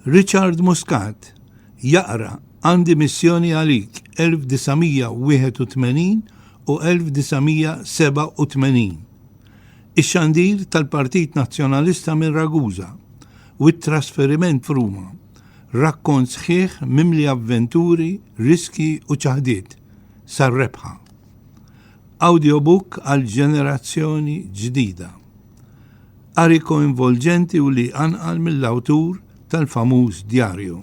Richard Muscat jaqra Għandi Missjoni Għalik 1981 u 1987, Ix-Xandir tal-Partit Nazzjonalista minn Ragusa u t-Trasferiment f'Ruma, rakkont sħiħ mimli avventuri, riskji u ċaħdiet sar-rebħa. Awdjobook għal ġenerazzjoni ġdida. Qari koinvolġenti u li jqanqal mill-awtur tal-famuż djarju.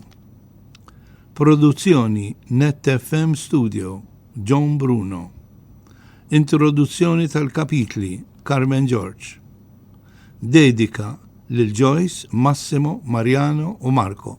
Produzzjoni Net FM Studio, John Bruno. Introduzzjoni tal-kapitli, Carmen George. Dedika lil Joyce, Massimo, Mariano u Marco.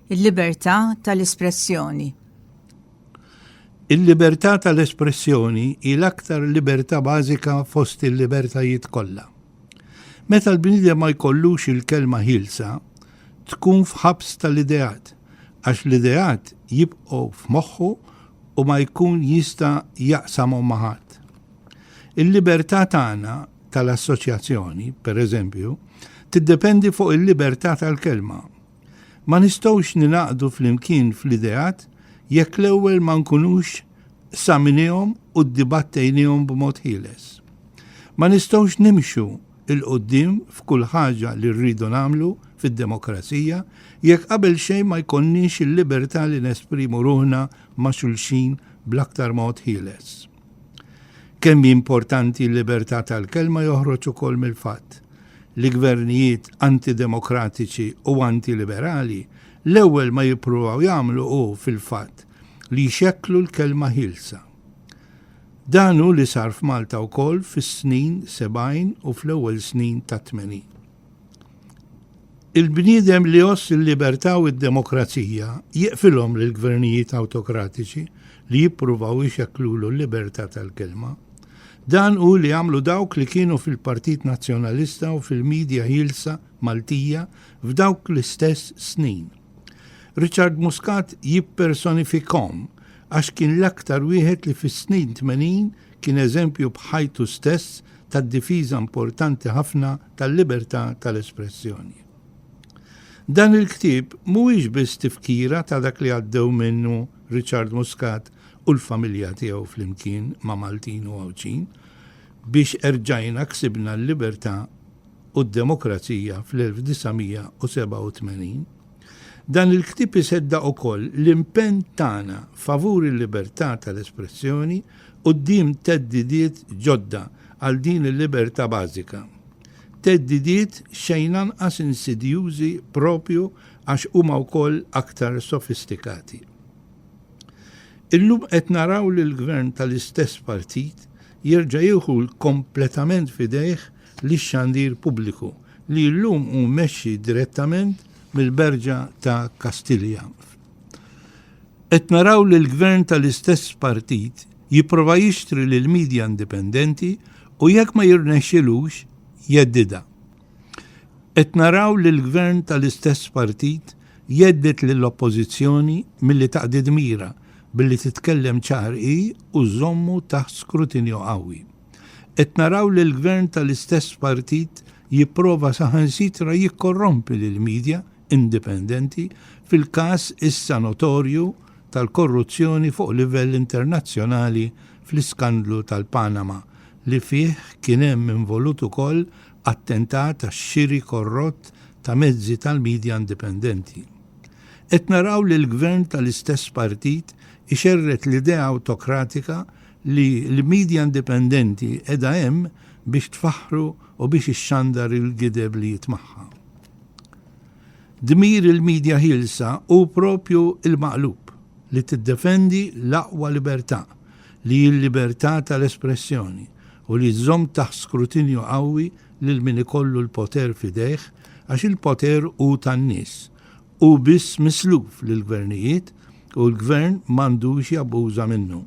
Il-libertà tal-espressjoni. Il-libertà tal-espressjoni hi l-aktar libertà bażika fost il-libertajiet kollha. Meta l-bniedem ma jkollux il-kelma ħilsa, tkun f'ħabs tal-ideat, għax l-ideat jibqgħu f'moħħu u ma jkun jista' jaqsamhom ma' ħadd. Il-libertà tagħna tal-assoċjazzjoni, pereżempju, tiddependi fuq il-libertà tal-kelma Ma nistgħux ningħaqdu flimkien fl-ideat jekk l-ewwel ma nkunux saminihom u ddibattejnihom b'mod ħieles. Ma nistgħux nimxu 'l quddiem f'kull ħaġa li rridu nagħmlu fid-demokrazija jekk qabel xejn ma jkollniex il-libertà li nesprimu ruħna ma' xulxin bl-aktar mod ħieles. Kemm importanti l-libertà tal-kelma joħroġ ukoll mill-fatt li gvernijiet antidemokratiċi u antiliberali l-ewwel ma jippruvaw jagħmlu hu fil-fatt li jxekklu l-kelma ħielsa. Dan hu li sar f'Malta wkoll fis-snin 70 u fl-ewwel snin tat-80. Il-bniedem li jgħożż il-libertà u d-demokrazija jiqfilhom lill-gvernijiet awtokratiċi li jippruvaw ixekklulu l-libertà tal-kelma. Dan hu li għamlu dawk li kienu fil-Partit Nazzjonalista u fil-midja ħielsa Maltija f'dawk l-istess snin. Richard Muscat jippersonifikhom għax kien l-aktar wieħed li fis-snin tmenin kien eżempju b'ħajtu stess tad-difiża importanti ħafna tal-libertà tal-espressjoni. Dan il-ktieb mhuwiex biss tifkira ta' dak li għaddew minnu Richard Muscat u l-familja tiegħu flimkien ma' Maltin u Għawdxin biex erġajna ksibna l-libertà u d-demokrazija fl-1987, dan il-ktieb iseddaq ukoll l-impenn tagħna favur il-libertà tal-espressjoni quddiem theddidiet ġodda għal din il-libertà bażika, theddidiet xejn anqas insidjużi proprju għax huma wkoll aktar sofistikati. Illum qed naraw lill-Gvern tal-istess partit jerġa' jieħu kompletament f'idejh lix-xandir pubbliku li llum hu mmexxi direttament mill-Berġa ta' Kastilja. Qed naraw li l-Gvern tal-istess partit jipprova jixtri lill-media indipendenti u jekk ma jirnexxilux jheddidha. Qed naraw li l-Gvern tal-istess partit jhedded lill-Oppożizzjoni milli taqdi dmirha billi titkellem ċar hi u żżommu taħt skrutinju qawwi. Qed naraw li l-Gvern tal-istess partit jipprova saħansitra jikkorrompi lill-media indipendenti fil-każ issa notorju tal-korruzzjoni fuq livell internazzjonali fl-iskandlu tal-Panama li fih kien hemm involut ukoll attentat għax-xiri korrott ta' mezzi tal-midja indipendenti. Qed naraw li l-Gvern tal-istess partit ixerred l-idea awtokratika li l-midja indipendenti qiegħda hemm biex tfaħħru u biex ixxandar il-gideb li jitmagħha. Dmir il-midja ħielsa hu proprju l-maqlub, li tiddefendi l-aqwa libertà, li hi l-libertà tal-espressjoni, u li żżomm taħt skrutinju qawwi lil min ikollu l-poter f'idejh għax il-poter hu tan-nies. Hu biss misluf lill-gvernijiet u l-gvern m'għandux jabbuża minnu.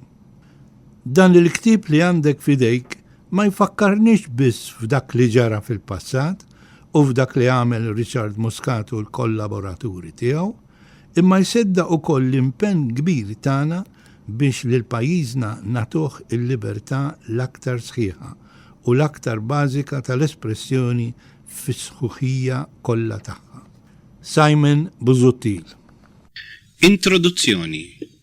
Dan il-ktieb li għandek f'idejk ma jfakkarniex biss f'dak li ġara fil-passat, u f'dak li għamel Richard Muscat u l-kollaboraturi tiegħu, imma jseddaq ukoll l-impenn kbir tagħna biex lil pajjiżna nagħtuh il-libertà l-aktar sħiħa u l-aktar bażika tal-espressjoni fis-sħuħija kollha tagħha. Simon Busuttil. Introduzzjoni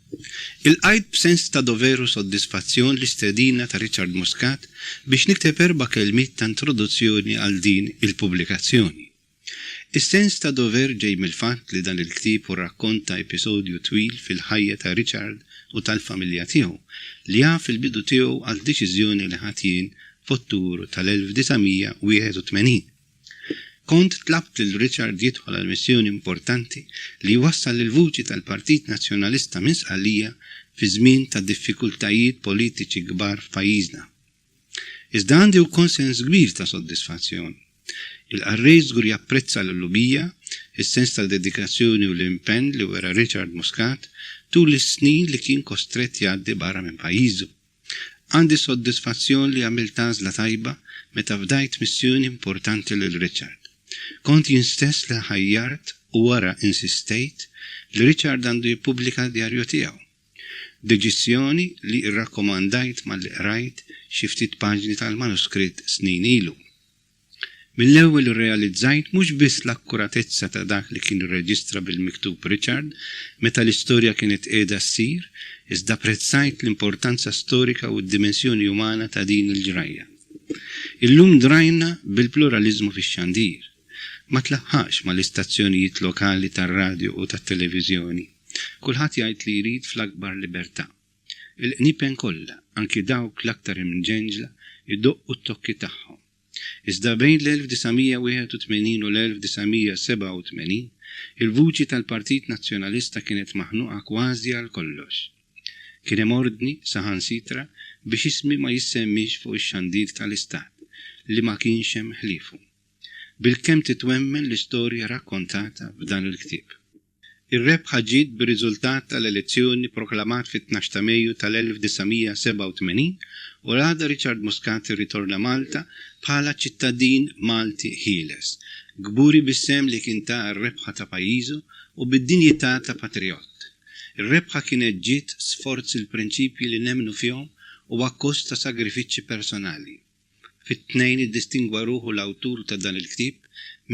Ilqajt b'sens ta' dover u soddisfazzjon l-istedina ta' Richard Muscat biex nikteb erba' kelmiet ta' introduzzjoni għal din il-pubblikazzjoni. Is-sens ta' dover ġej mill-fatt li dan il-ktieb hu rakkont ta' episodju twil fil-ħajja ta' Richard u tal-familja tiegħu, li jaf il-bidu tiegħu għal deċiżjoni li ħadt jien f'Ottubru tal-1981. Kont tlabt lil Richard jidħol għal missjoni importanti li jwassal il-vuċi tal-Partit Nazzjonalista minn Sqallija fi żmien ta' diffikultajiet politiċi kbar f'pajjiżna. Iżda għandi wkoll sens kbir ta' soddisfazzjon. Il-qarrej żgur japprezza l-qlubija, is-sens ta' dedikazzjoni u l-impenn li wera Richard Muscat tul is-snin li kien kostrett jgħaddi barra minn pajjiżu. Għandi s-soddisfazzjon li għamilt għażla tajba meta fdajt missjoni importanti lil Richard. Kont jien stess li ħajjart u wara insistejt li Richard għandu jippubblika d-djarju tiegħu. Deċiżjoni li rrakkomandajt malli qrajt xi ftit paġni tal-manuskritt snin ilu. Mill-ewwel irrealizzajt mhux biss l-akkuratezza ta' dak li kien irreġistra bil-miktub Richard meta l-istorja kienet qiegħda ssir, iżda apprezzajt l-importanza storika u d-dimensjoni umana ta' din il-ġrajja. Illum drajna bil-pluraliżmu fix-xandir. Ma tlaħħaqx mal-istazzjonijiet lokali tar-radju u tat-televiżjoni. Kulħadd jgħid li jrid fl-akbar libertà. Il-qniepen kollha, anki dawk l-aktar imġenġla, idoqqu t-tokki tagħhom. Iżda bejn l-1981 u l-1987, il-vuċi tal-Partit Nazzjonalista kienet maħnuqa kważi għal kollox. Kien hemm ordni, saħansitra, biex ismi ma jissemmiex fuq ix-xandir tal-Istat, li ma kienx hemm ħliefu. Bilkemm titwemmen l-istorja rakkontata f'dan il-ktieb. Ir-rebħa ġiet bir-riżultat tal-elezzjoni proklamat fit-tnax ta' Mejju tal-1987 u l-għada Richard Muscat irritorna Malta bħala ċittadin Malti ħieles, kburi bis-sehem li kien ta għar-rebħa ta' pajjiżu u bid-dinjità ta' patrijott. Ir-rebħa kienet ġiet sforz il-prinċipji li nemmnu fihom u akkost ta' sagrifiċċji personali. Fit-Tnejn iddistingwa ruħu l-awtur ta' dan il-ktieb,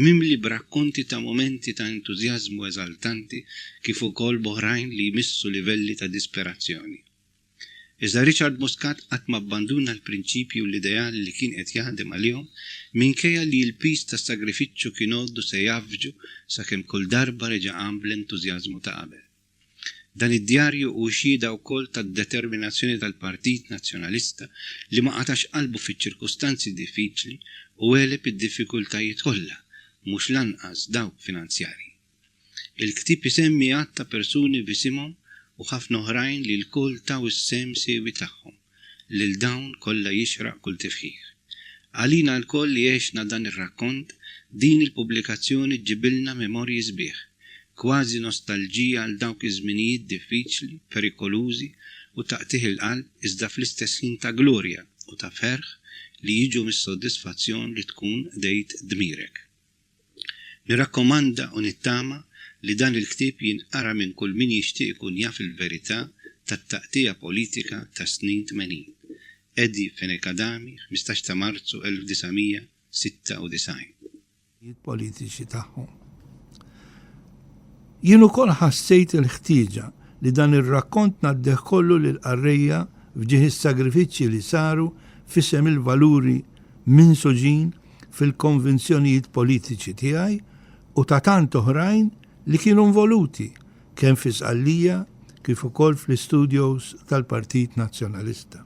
mimli b'rakkonti ta' mumenti ta' entużjażmu eżaltanti kif ukoll b'oħrajn li jmissu livelli ta' disperazzjoni. Iżda Richard Muscat qatt ma abbanduna l-prinċipji u l-ideali li kien qed jaħdem għalihom minkejja li l-piż tas-sagrifiċċju kien għoddu se jgħaffġu sakemm kull darba reġa' qam bl-entużjażmu ta' qabel. Dan id-djarju hu xhieda wkoll tad-determinazzjoni tal-Partit Nazzjonalista li ma qatax qalbu fiċ-ċirkustanzi diffiċli u għeleb id-diffikultajiet kollha, mhux l-anqas dawk finanzjarji. Il-ktieb isemmi għadd ta' persuni b'isimhom u ħafna oħrajn li lkoll taw is-sehem siewi tagħhom. lil dawn kollha jixraq kull tifħir. Għalina lkoll li għexna dan ir-rakkont, din il-pubblikazzjoni ġġibilna memorji sbieħ, kważi nostalġija għal dawk iż-żminijiet diffiċli, perikolużi u ta' qtigħ il-qalb iżda fl-istess ħin ta' glorja u ta' ferħ li jiġu mis-soddisfazzjon li tkun qdejt dmirek. Nirrakkomanda u nittama li dan il-ktieb jinqara minn kull min jixtieq ikun jaf il-verità tat-taqtigħa politika tas-snin tmenin. Eddie Fenech Adami, ħmistax ta' Marzu 1996. l-għanijiet politiċi tagħhom. Jien ukoll ħassejt il-ħtieġa li dan ir-rakkont ngħaddih kollu lill-qarrejja f'ġieħ is-sagrifiċċji li saru f'isem il-valuri minsuġin fil-konvinzjonijiet politiċi tiegħi u ta' tant oħrajn li kienu nvoluti kemm fi Sqallija kif ukoll fl-istudios tal-Partit Nazzjonalista.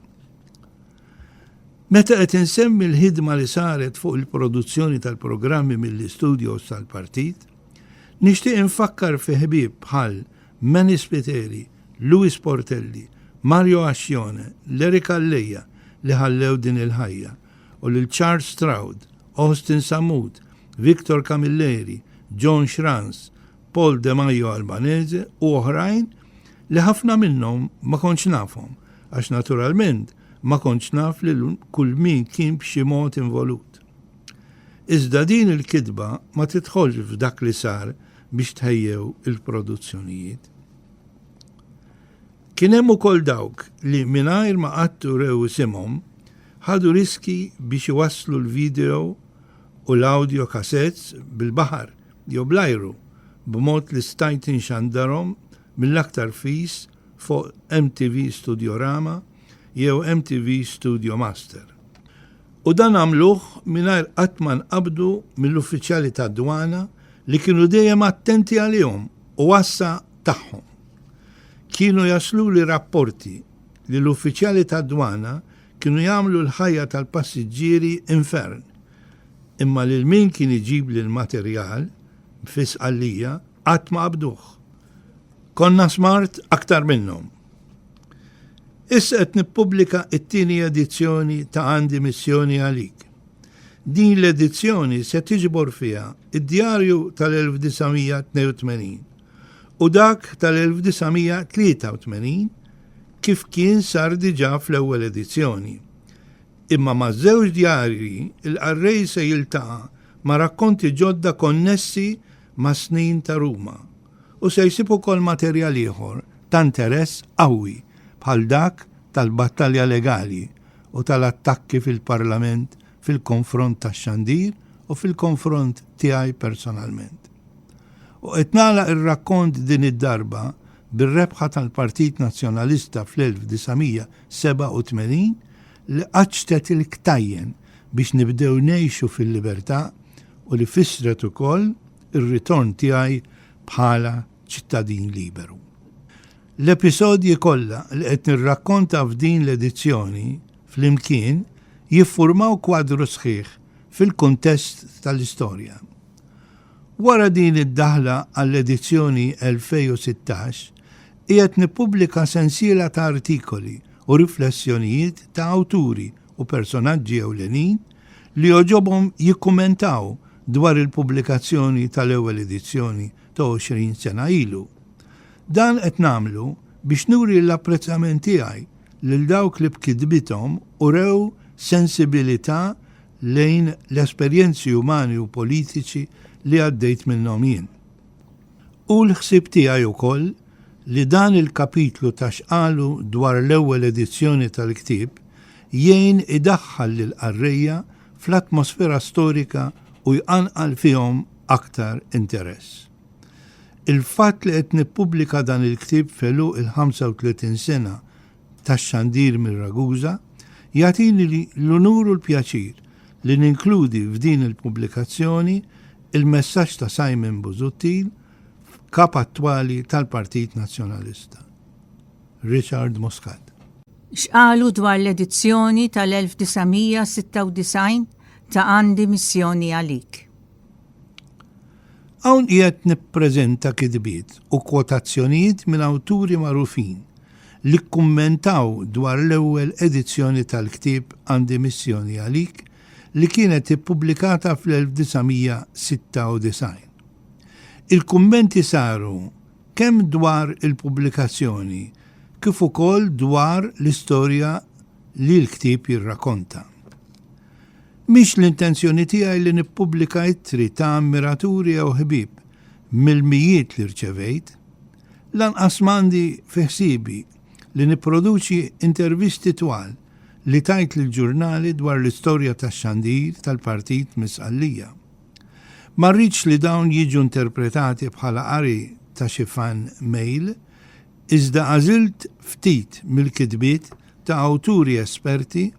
Meta qed insemmi l-ħidma li saret fuq il-produzzjoni tal-programmi mill-istudios tal-Partit, nixtieq infakkar fi ħbieb bħal Manny Spiteri, Louis Portelli, Mario Ascione, Larry Calleja li ħallew din il-ħajja u lil Charles Stroud, Austin Sammut, Victor Camilleri, John Schranz, Paul De Majo Albanese u oħrajn li ħafna minnhom ma kontx nafhom għax naturalment ma kontx naf lil kull min kien b'xi mod involut. Iżda din il-kitba ma tidħolx f'dak li sar biex tħejjew il-produzzjonijiet. Kien hemm ukoll dawk li mingħajr ma qatt urew isimhom, ħadu riskji biex iwasslu l-video u l-audio cassettes bil-baħar jew bl-ajru b'mod li stajt inxandarhom mill-aktar fis fuq MTV Studiorama jew MTV Studio Master. U dan għamluh mingħajr qatt ma nqabdu mill-uffiċjali tad-dwana li kienu dejjem attenti għalihom u għassa tagħhom. Kienu jasluli rapporti li l-uffiċjali tad-dwana kienu jagħmlu l-ħajja tal-passiġġieri infern, imma lil min kien iġibli l-materjal fi Sqallija qatt ma qabduh. Konna smart aktar minnhom. Issa qed nippubblika t-tieni edizzjoni ta' Għandi Missjoni Għalik. Din l-edizzjoni se tiġbor fiha d-djarju tal-1982, u dak tal-1983 kif kien sar diġà fl-ewwel edizzjoni. Imma maż-żewġ djarji l-qarrej se jiltaqa' ma' rakkonti ġodda konnessi mas-snin ta' Ruma u se jsib ukoll materjal ieħor ta' interess qawwi bħal dak tal-battalja legali u tal-attakki fil-Parlament fil-konfront tax-xandir u fil-konfront tiegħi personalment. U qed nagħlaq ir-rakkont din id-darba bir-rebħa tal-Partit Nazzjonalista fl-1987 li qaċċtet il-ktajjen biex nibdew ngħixu fil-libertà u li fissret ukoll ir-ritorn tiegħi bħala ċittadin liberu. L-episodji kollha li qed nirrakkonta f'din l-edizzjoni flimkien jiffurmaw kwadru sħiħ fil-kuntest tal-istorja. Wara din id-daħla għall-edizzjoni 2016, qiegħed nippubblika sensiela ta' artikoli u riflessjonijiet ta' awturi u personaġġi ewlenin li jogħġobhom jikkummentaw dwar il-pubblikazzjoni tal-ewwel edizzjoni ta' 20 sena ilu. Dan qed nagħmlu biex nuri l-apprezzament tiegħi lil dawk li b'kitbithom urew sensibilità lejn l-esperjenzi umani u politiċi li għaddejt minnhom jien. Hu l-ħsieb tiegħi wkoll li dan il-kapitlu ta' x'qalu dwar l-ewwel edizzjoni tal-ktieb jgħin idaħħal lill-qarrejja fl-atmosfera storika u jqanqal fihom aktar interess. Il-fatt li qed nippubblika dan il-ktieb f'għeluq il-35 sena tax-xandir minn Ragusa jagħtini l-unur u l-pjaċir li ninkludi f'din il-pubblikazzjoni l-messaġġ ta' Simon Busuttil, Kap attwali tal-Partit Nazzjonalista. Richard Muscat. X'qalu dwar l-edizzjoni tal-1996 ta' Għandi Missjoni Għalik? Hawn qiegħed nippreżenta kitbiet u kwotazzjonijiet minn awturi magħrufin li kkummentaw dwar l-ewwel edizzjoni tal-ktieb Għandi Missjoni Għalik li kienet ippubblikata fl-1996. Il-kummenti saru kemm dwar il-pubblikazzjoni kif ukoll dwar l-istorja li l-ktieb jirrakonta. Mhix l-intenzjoni tiegħi li nippubblika ittri ta' ammiraturi jew ħbieb mill-mijiet li rċevejt. Lanqas m'għandi fi ħsiebi li nipproduċi intervisti twal li tajt lill-ġurnali dwar l-istorja tax-xandir tal-partit minn Sqallija. Ma rridx li dawn jiġu interpretati bħala qari ta' xi fan mail, iżda għażilt ftit mill-kitbiet ta' awturi esperti,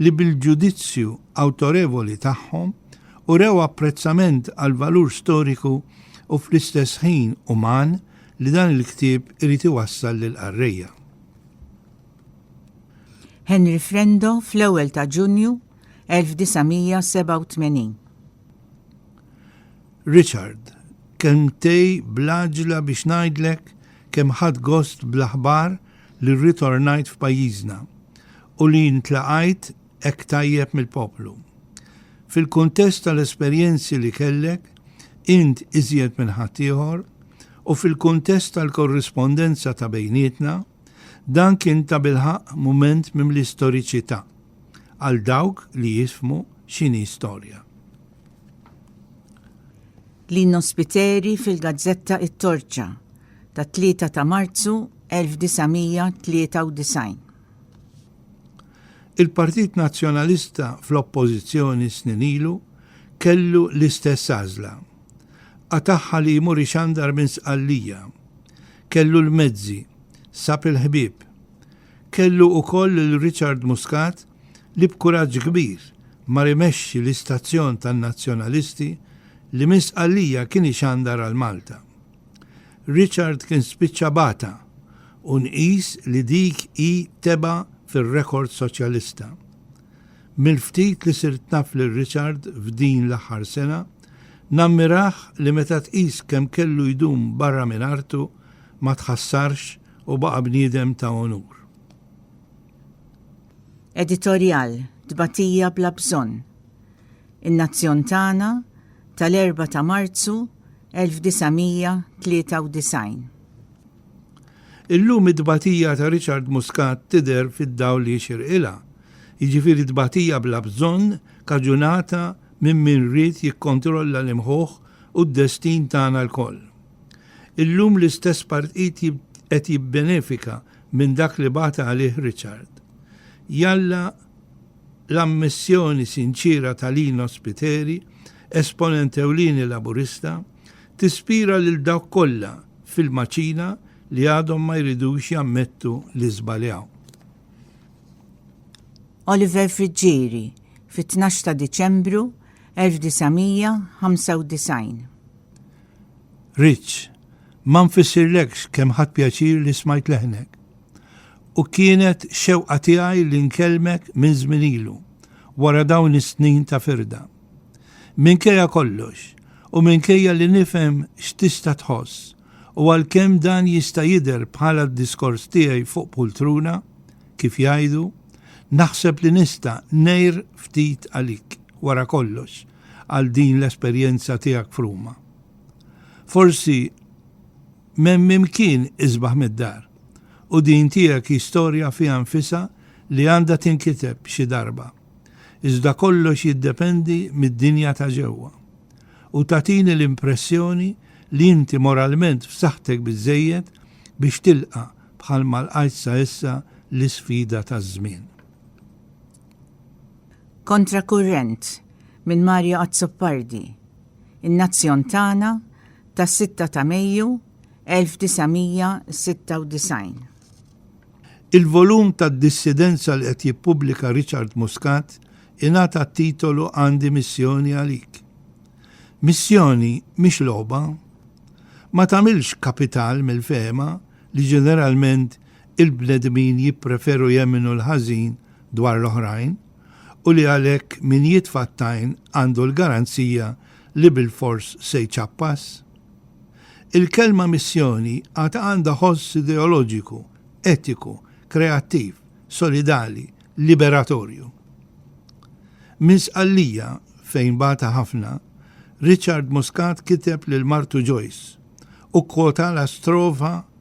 li bil-ġudizzju awtorevoli tagħhom urew apprezzament għall-valur storiku u fl-istess ħin uman li dan il-ktieb irid iwassal lill-qarrejja. Henry Frendo fl-ewwel ta' Ġunju 1987. Richard, kelmtej blaġla biex ngħidlek kemm ħadd gost bl-aħbar li rritornajt f'pajjiżna u li ntlaqajt hekk tajjeb mill-poplu. Fil-kuntest tal-esperjenzi li kellek int iżjed minn ħaddieħor u fil-kuntest tal-korrispondenza ta' bejnietna, dan kien tabilħaqq mument mimli storiċità għal dawk li jifhmu x'inhi storja. Lino Spiteri fil-gazzetta It-Torċa tat-3 ta' Marzu 1993. Il-Partit Nazzjonalista fl-Oppożizzjoni snin ilu kellu l-istess għażla. Qatagħha li jmur ixandar minn Sqallija. Kellu l-mezzi, sab il-ħbieb. Kellu ukoll lil Richard Muscat li b'kuraġġ kbir mar imexxi l-istazzjon tan-Nazzjonalisti li minn Sqallija kien ixandar għal Malta. Richard kien spiċċa bata u nqis li dik hi tebgħa fir-rekord Soċjalista. Mill-ftit li sirt naf lil Richard f'din l-aħħar sena, nammirah li meta tqis kemm kellu jdum barra minn artu ma tħassarx u baqa' bniedem ta' onur. Editorjal Tbatija bla bżonn. In-nazzjon tagħna tal-4 ta' Marzu 1993. Illum it-tbatija ta' Richard Muscat tidher fid-dawl li jixirqilha, jiġifieri tbatija bla bżonn kaġunata minn min ried jikkontrolla l-imħuħ u d-destin tagħna lkoll. Illum l-istess partit qed jibbenefika minn dak li bata għalih Richard. Jalla l-ammissjoni sinċiera ta' Lino Spiteri, esponent ewlieni Laburista, tispira lil dawk kollha fil-maċina li għadhom ma jridux jammettu li żbaljaw. Oliver Friggieri, fit-12 ta' Diċembru 1995. Ritz, ma nfissirlekx kemm ħadt pjaċir li smajt leħnek. U kienet xewqa tiegħi li nkellmek minn żmien ilu, wara dawn is-snin ta' firda. Minkejja kollox, u minkejja li nifhem x'tista' tħoss, u għalkemm dan jista' jidher bħala d-diskors tiegħi fuq pultruna, kif jgħidu, naħseb li nista' ngħir ftit għalik, wara kollox, għal din l-esperjenza tiegħek f'Ruma. Forsi m'hemm imkien isbaħ mid-dar u din tiegħek hi storja fiha nfisha li għandha tinkiteb xi darba. Iżda kollox jiddependi mid-dinja ta' ġewwa. U tagħtini l-impressjoni li inti moralment f'saħħtek biżżejjed biex tilqa' bħalma lqajt sa issa l-isfida taż-żmien. Kontra Kurrent minn Mario Azzopardi, In-Nazzjon Tagħna tas-6 ta' Mejju 1996. Il-volum tad-dissidenza li qed jippubblika Richard Muscat ingħata t-titolu Għandi Missjoni Għalik. Missjoni mhix logħba. Ma tagħmilx kapital mill-fehma li ġeneralment il-bnedmin jippreferu jemmnu l-ħażin dwar l-oħrajn u li għalhekk min jitfa' t-tajn għandu l-garanzija li bilfors se jċappas? Il-kelma missjoni għad għandha ħoss ideoloġiku, etiku, kreattiv, solidali, liberatorju. Minn Sqallija, fejn bata ħafna, Richard Muscat kiteb lil martu Joyce u kkwotala strofa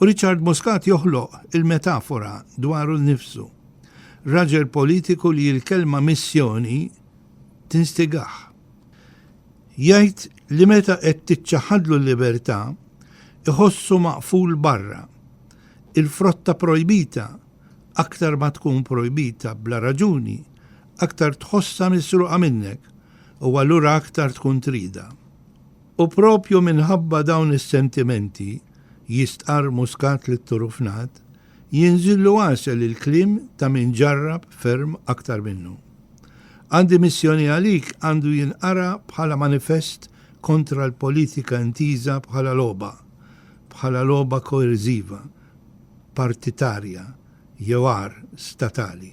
U Richard Muscat joħloq il-metafora dwaru nnifsu, raġel politiku li l-kelma missjoni tinstigah. Jgħid li meta qed tiċċaħħadlu l-libertà, iħossu maqful barra. Il-frotta projbita, aktar ma tkun projbita bla raġuni, aktar tħossha misruqa minnek u allura aktar tkun tridha. U propju minħabba dawn is-sentimenti, jistqarr Muscat lit-Turufnat, jinżillu għasel il-kliem ta' min ġarrab ferm aktar minnu. Għandi missjoni għalik għandu jinqara bħala manifest kontra l-politika intiża bħala logħba, bħala logħba koerżiva, partitarja, jew agħar, statali.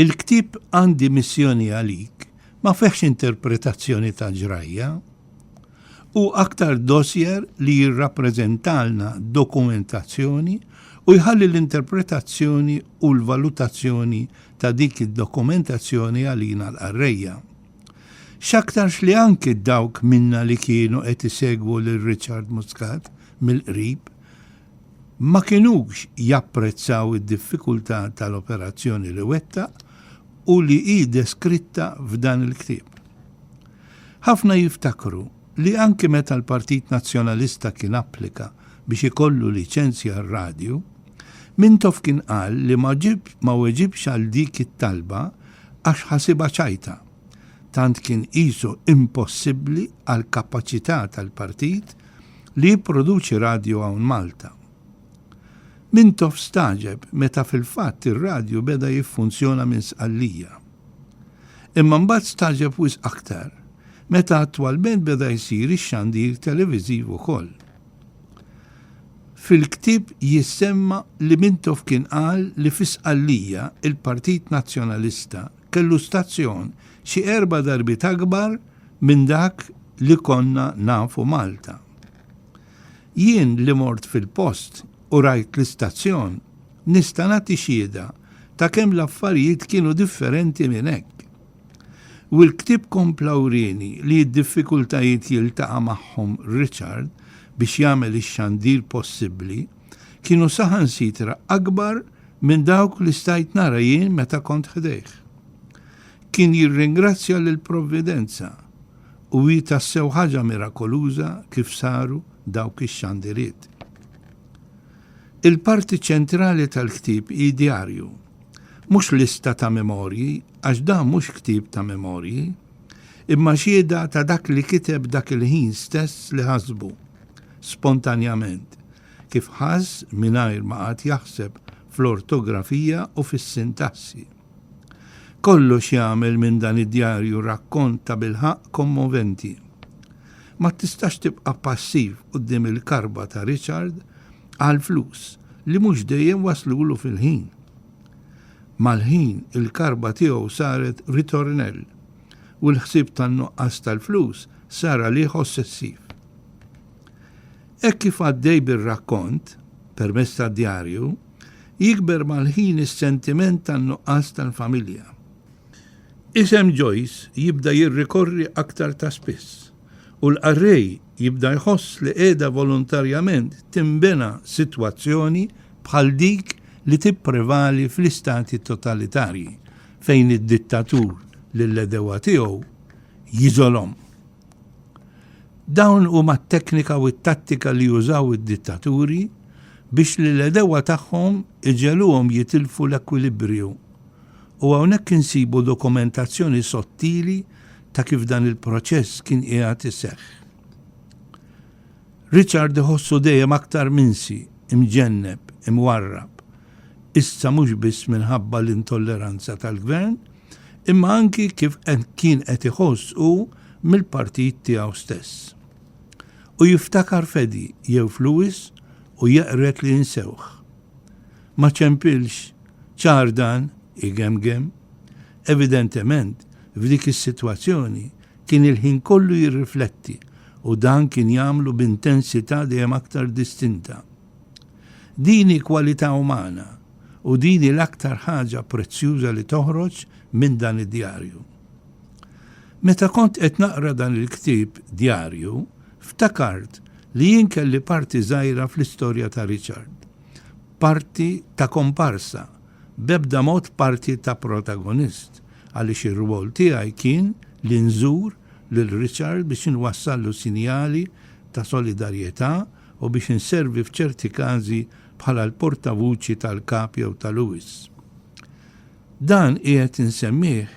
Il-ktieb Għandi Missjoni Għalik ma fihx interpretazzjoni ta' ġrajja. Hu aktar dossier li jirrappreżentalna dokumentazzjoni u jħalli l-interpretazzjoni u l-valutazzjoni ta' dik id-dokumentazzjoni għalina l-qarrejja. X'aktarx li anki dawk minna li kienu qed isegwu lil Richard Muscat mill-qrib ma kinux japprezzaw id-diffikultà tal-operazzjoni li wettaq u li hi deskritta f'dan il-ktieb. Ħafna jiftakru li anki meta l-Partit Nazzjonalista kien applika biex ikollu liċenzja għar-radju, Mintoff kien qal li ma weġibx għal dik it-talba għax ħasibha ċajta, tant kien qisu impossibbli għall-kapaċità tal-partit li jipproduċi radju hawn Malta. Mintoff stagħġeb meta fil-fatt ir-radju beda jiffunzjona minn Sqallija. Imma mbagħad stagħġeb wisq aktar meta attwalment beda jsir ix-xandir televiżiv ukoll. Fil-ktieb jissemma li Mintoff kien qal li fi Sqallija il-Partit Nazzjonalista kellu stazzjon xi erba' darbiet akbar minn dak li konna nafu Malta. Jien li mort fil-post u rajt l-istazzjon nista' nagħti xhieda ta' kemm l-affarijiet kienu differenti minn hekk. U l-ktieb kompla wrieni li d-diffikultajiet jiltaqa' magħhom Richard biex jagħmel ix-xandir possibbli kienu saħansitra akbar Minn dawk li stajt nara jien meta kont ħdejh. Kien jirringrazzja lill-Provvidenza u hi tassew ħaġa mirakoluża kif saru dawk ix-xandiriet. Il-parti ċentrali tal-ktieb hi djarju. Mhux lista ta' memorji, għax dan mhux ktieb ta' memorji, imma xhieda ta' dak li kiteb dak il-ħin stess li ħasbu, spontanjament, kif ħass mingħajr ma qagħad jaħseb fl-ortografija u fis-sintassi. Kollox jagħmel minn dan id-djarju rakkont tabilħaqq kommoventi. Ma tistax tibqa' passiv quddiem il-karba ta' Richard għall-flus li mhux dejjem waslulu fil-ħin. Mal-ħin il-karba tiegħu saret ritornell u l-ħsieb tan-nuqqas tal-flus sar għalih ossessiv. Hekk kif għaddej bir-rakkont, permezz tad-djarju, jikber mal-ħin is-sentiment tan-nuqqas tal-familja. Isem Joyce jibda jirrikorri aktar ta' spiss, u l-qarrej jibda jħoss li qiegħda volontarjament tinbena sitwazzjoni bħal dik li tipprevali fl-istati totalitarji, fejn id-dittatur lill-għedewwa tiegħu jiżolhom. Dawn huma t-teknika u t-tattika li jużaw id-dittaturi biex lill-għedewwa tagħhom iġegħluhom jitilfu l-ekwilibriju. U hawnhekk insibu dokumentazzjoni sottili ta' kif dan il-proċess kien qiegħed iseħħ. Richard iħossu dejjem aktar minsi, imġenneb, imwarrab, issa mhux biss minħabba l-intolleranza tal-gvern, imma anki kif kien qed iħoss hu mill-partit tiegħu stess. U jiftakar Fedi jew f'Louis u jeqred li jinsewh. Ma ċempilx ċar dan, igemgem. Evidentement, f'dik is-sitwazzjoni kien il-ħin kollu jirrifletti u dan kien jagħmlu b'intensità dejjem aktar distinta. Din hi kwalità umana u din hi l-aktar ħaġa prezzjuża li toħroġ minn dan id-djarju. Meta kont qed naqra dan il-ktieb djarju, ftakart li jien kelli parti żgħira fl-istorja ta' Richard. Parti ta' komparsa, b'ebda mod parti ta' protagonist, għaliex ir-rwol tiegħi kien li nżur lil Richard biex inwassallu sinjali ta' solidarjetà u biex inservi f'ċerti każi bħala l-portavuċi tal-Kap jew ta' Lewis. Dan qiegħed insemmih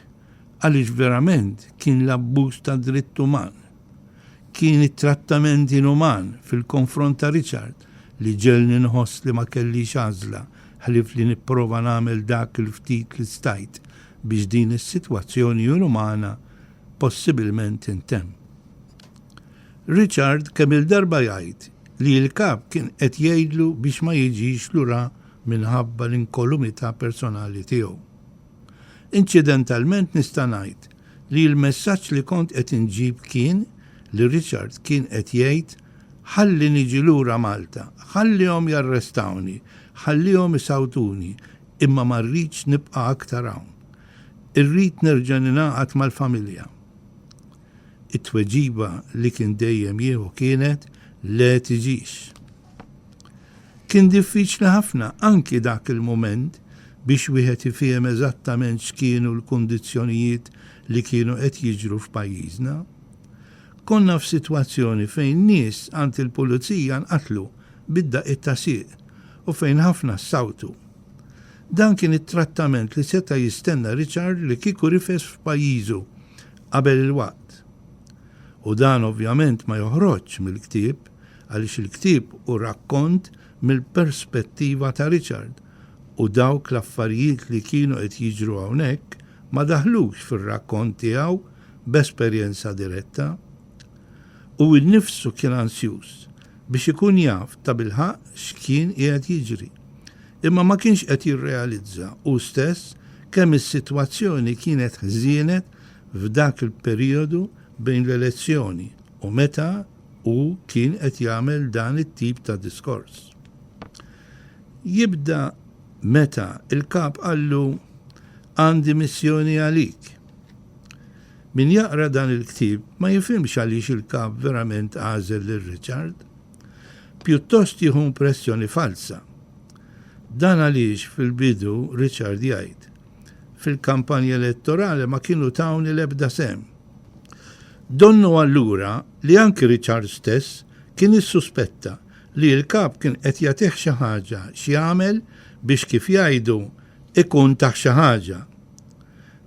għaliex verament kien l-abbuż ta' dritt uman. Kien it-trattament inuman fil-konfront ta' Richard li ġegħelni nħoss li ma kellix għażla ħlief li nipprova nagħmel dak il-ftit li stajt biex din is-sitwazzjoni inumana possibilment tintemm. Richard kemm-il darba jgħid li l-Kap kien qed jgħidlu biex ma jiġix lura minħabba l-inkolumità personali tiegħu. Inċidentalment nista' ngħid li l-messaġġ li kont qed inġib kien li Richard kien qed jgħid ħalli niġi lura Malta, ħallihom jarrestawni, ħallihom isawtuni imma ma rridx nibqa' aktar hawn. Irrid nerġa' ningħaqad mal-familja. it-tweġiba li kien dejjem jieħu kienet le tiġix. Kien diffiċli ħafna anki dak il-mument biex wieħed ifiehem eżattament x'kienu l-kundizzjonijiet li kienu qed jiġru f'pajjiżna. Konna f'sitwazzjoni fejn nies għand il-pulizija nqatlu bid-daqqiet ta' sieq u fejn ħafna ssawtu. Dan kien it-trattament li seta' jistenna Richard li kieku rifes f'pajjiżu qabel il-waqt. U dan ovvjament ma joħroġx mill-ktieb għaliex il-ktieb hu rakkont mill-perspettiva ta' Richard u dawk l-affarijiet li kienu qed jiġru hawnhekk ma daħlux fir-rakkont tiegħu b'esperjenza diretta. Hu nnifsu kien ansjuż biex ikun jaf tabilħaqq x'kien qiegħed jiġri. Imma ma kienx qed jirrealizza hu stess kemm is-sitwazzjoni kienet ħżienet f'dak il-perijodu bejn l-elezzjoni u meta hu kien qed jagħmel dan it-tip ta' diskors. Jibda meta l-Kap qallu Għandi missjoni għalik. Min jaqra dan il-ktieb ma jifhimx għaliex il-Kap verament għażel lil Richard. Pjuttost jieħu impressjoni falza. Dan għaliex fil-bidu Richard jgħid, Fil-kampanja elettorali ma kienu tawni l-ebda sehem. Donnu allura li anki Richard stess kien issuspetta li l-Kap kien qed jagħtih xi ħaġa x'jagħmel biex kif jgħidu ikun tah xi ħaġa.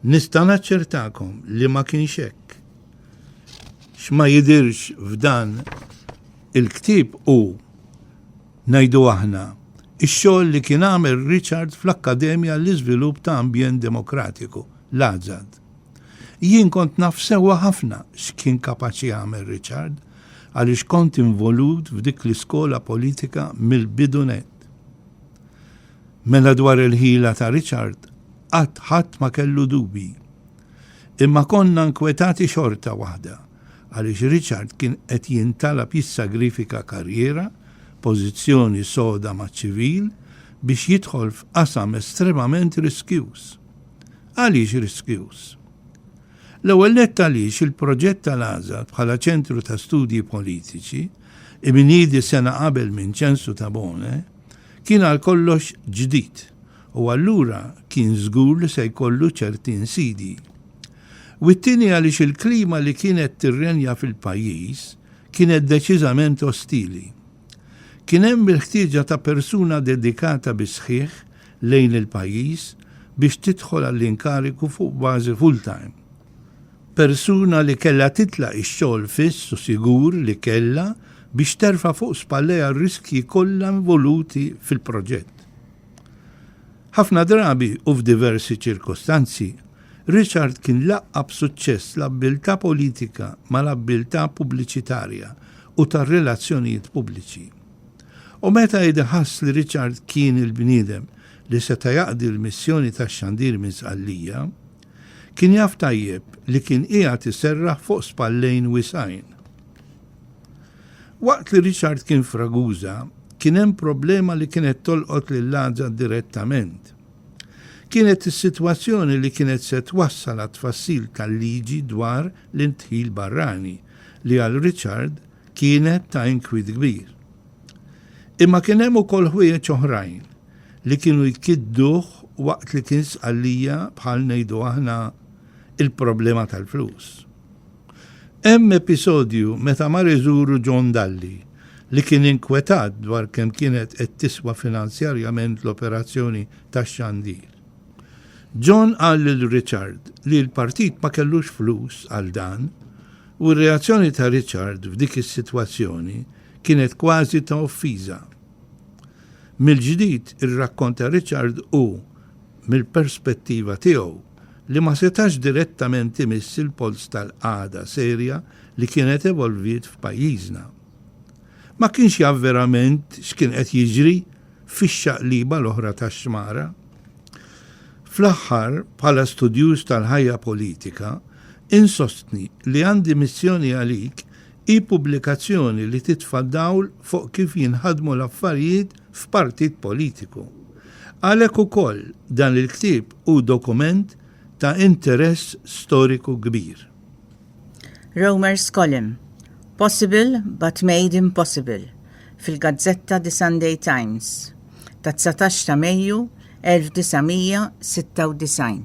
Nista' naċċertakom li ma kienx hekk. X'ma jidhirx f'dan il-ktieb hu, ngħidu aħna, ix-xogħol li kien għamel Richard fl-Akkademja għall-Iżvilupp ta' Ambjent Demokratiku, l-AZAD. Jien kont naf sewwa ħafna x'kien kapaċi jagħmel Richard għaliex kont involut f'dik l-iskola politika mill-bidu nett. Mela dwar il-ħila ta' Richard qatt ħadd ma kellu dubji. Imma konna nkwetati xorta waħda għaliex Richard kien qed jintalab jissagrifika karriera, pożizzjoni soda maċ-ċivil biex jidħol f'qasam estremament riskjuż. Għaliex riskjuż? L-ewwel nett għaliex il-proġett tal-Għaża bħala ċentru ta' studji politiċi, imniedi sena qabel minn Ċensu Tabone, kien għal kollox ġdid u allura kien żgur li se jkollu ċerti insidi. U t-tieni għaliex il-klima li kienet tirrenja fil-pajjiż kienet deċiżament ostili. Kien hemm il-ħtieġa ta' persuna dedikata bis-sħiħ lejn il-pajjiż biex tidħol għall-inkarigu fuq bażi full-time. Persuna li kellha titlaq ix-xogħol fiss u sigur li kellha biex terfa' fuq spallejha r-riskji kollha involuti fil-proġett. Ħafna drabi u f'diversi ċirkostanzi, Richard kien laqqa' b'suċċess l-abbiltà politika mal-abbiltà pubbliċitarja u tar-relazzjonijiet pubbliċi. U meta Eda ħass li Richard kien il-bniedem li seta' jaqdi l-missjoni tax-xandir minn Sqallija, Kien jaf tajjeb li kien qiegħed iserraħ fuq spallejn wiesgħin. Waqt li Richard kien f'Ragusa, kien hemm problema li kienet tolqot lil Għaża direttament. Kienet is-sitwazzjoni li kienet se twassal għat-tfassil tal-liġi dwar l-indħil barrani li għal Richard kienet ta' inkwiet kbir. Imma kien hemm ukoll ħwejjeġ oħrajn li kienu jkidduh waqt li kien Sqallija bħal ngħidu aħna il-problema tal-flus. Hemm episodju meta mar iżuru John Dalli li kien inkwetat dwar kemm kienet qed tiswa finanzjarjament l-operazzjoni tax-xandir. John qal lil Richard li l-partit ma kellux flus għal dan u r-reazzjoni ta' Richard f'dik is-sitwazzjoni kienet kważi ta' offiża. Mill-ġdid ir-rakkont ta' Richard hu mill-perspettiva tiegħu, li ma setax direttament imiss il-polz tal-qagħda serja li kienet evolviet f'pajjiżna. Ma kienx jaf verament x'kien qed jiġri fix-xaqliba l-oħra tax-xmara. Fl-aħħar, bħala studjuż tal-ħajja politika, insostni li għandi missjoni għalik hi pubblikazzjoni li titfa' dawl fuq kif jinħadmu l-affarijiet f'partit politiku. Għalhekk ukoll dan il-ktieb hu dokument ta' interess storiku kbir. Romer Scollem, Possible but made impossible fil-gazzetta The Sunday Times tat-dsatax ta' Mejju 1996.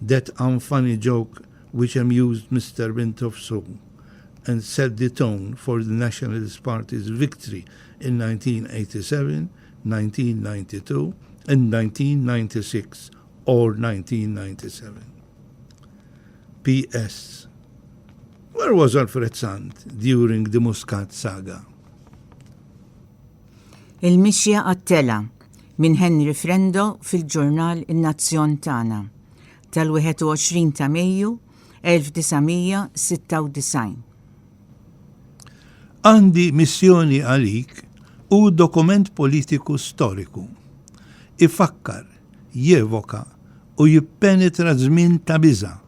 That unfunny joke which amused Mister Mintoff so, and set the tone for the Nationalist Party's victory in 1987, 1992 and 1996 or 1997. PS. Where was Alfred Sant during the Muscat saga? Il-mixja għat-telgħa. Minn Henry Frendo fil-ġurnal In-Nazzjon Tagħna tal-21 ta' Mejju 1996. Għandi missjoni għalik hu dokument politiku storiku. Ifakkar, jevoka u jippenetra żmien ta' biża'.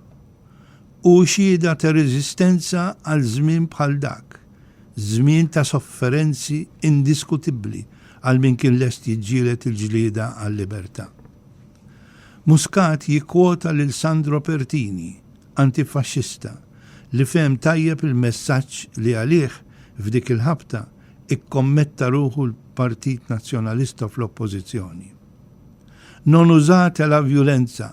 hu xhieda ta' reżistenza għal żmien bħal dak, żmien ta' sofferenzi indiskutibbli għal min kien lest jiġġieled il-ġlieda għal-libertà. Muscat jikkwota lil Sandro Pertini, antifaxxista, li fehem tajjeb il-messaġġ li għalih, f'dik il-ħabta, ikkommetta ruħu l-Partit Nazzjonalista fl-Oppożizzjoni. Non usate la violenza!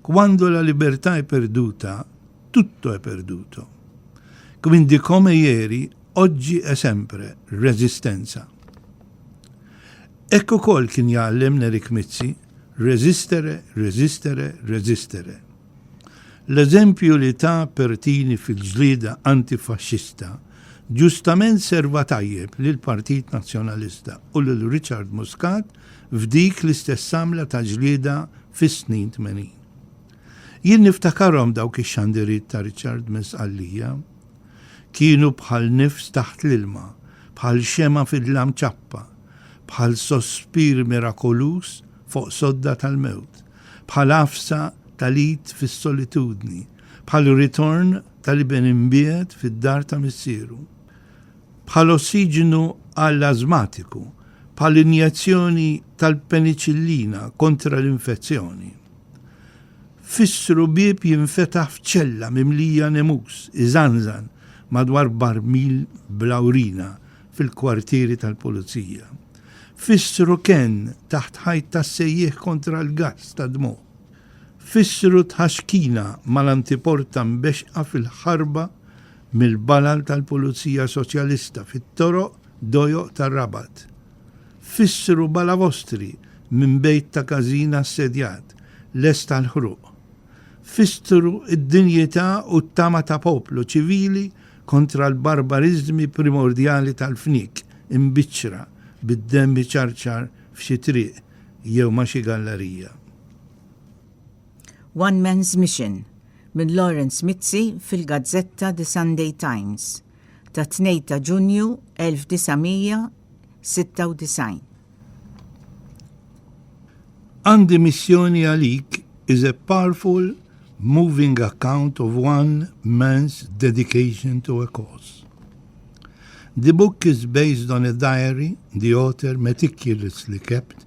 Quando la libertà è perduta, tutto è perduto. Quindi come ieri, oggi e sempre, resistenza. Hekk ukoll kien jgħallem Nerik Mizzi, resistere, resistere, resistere. L-eżempju li ta' Pertini fil-ġlieda antifaxxista ġustament serva tajjeb lil Partit Nazzjonalista u lil Richard Muscat f'dik l-istess għamla ta' ġlieda fis-snin tmenin. Jien niftakarhom dawk ix-xandiriet ta' Richard minn Sqallija. Kienu bħal nifs taħt l-ilma, bħal xemgħa fid-dlam ċappa, bħal sospir mirakoluż fuq sodda tal-mewt, bħal għafsa tal-id fis-solitudni, bħal ritorn tal-iben imbiegħed fid-dar ta' missieru. bħal ossiġenu għall-ażmatiku, bħal injezzjoni tal-peniċillina kontra l-infezzjoni. Fissru bieb jinfetaħ f'ċella mimlija nemus iżanżan madwar barmil bla urina fil-kwartieri tal-pulizija. Fissru kenn taħt ħajt tas-sejjieħ kontra l-gass tad-dmugħ. Fissru tħaxkina mal-antiporta mbexxqa fil-ħarba mill-balal tal-Pulizija Soċjalista fit-toroq dojoq tar-Rabat. Fissru balavostri minn bejt ta' każin assedjat, lest għall-ħruq. Fissru d-dinjità u t-tama ta' poplu ċivili kontra l-barbariżmi primordjali tal-fniek imbiċċra bid-demm iċarċar f'xi triq jew ma' xi gallarija. One Man's Mission minn Lawrence Mizzi fil-gazzetta The Sunday Times tat-2 ta' Ġunju 1996. Għandi missjoni għalik is a powerful moving account of one man's dedication to a cause. The book is based on a diary the author meticulously kept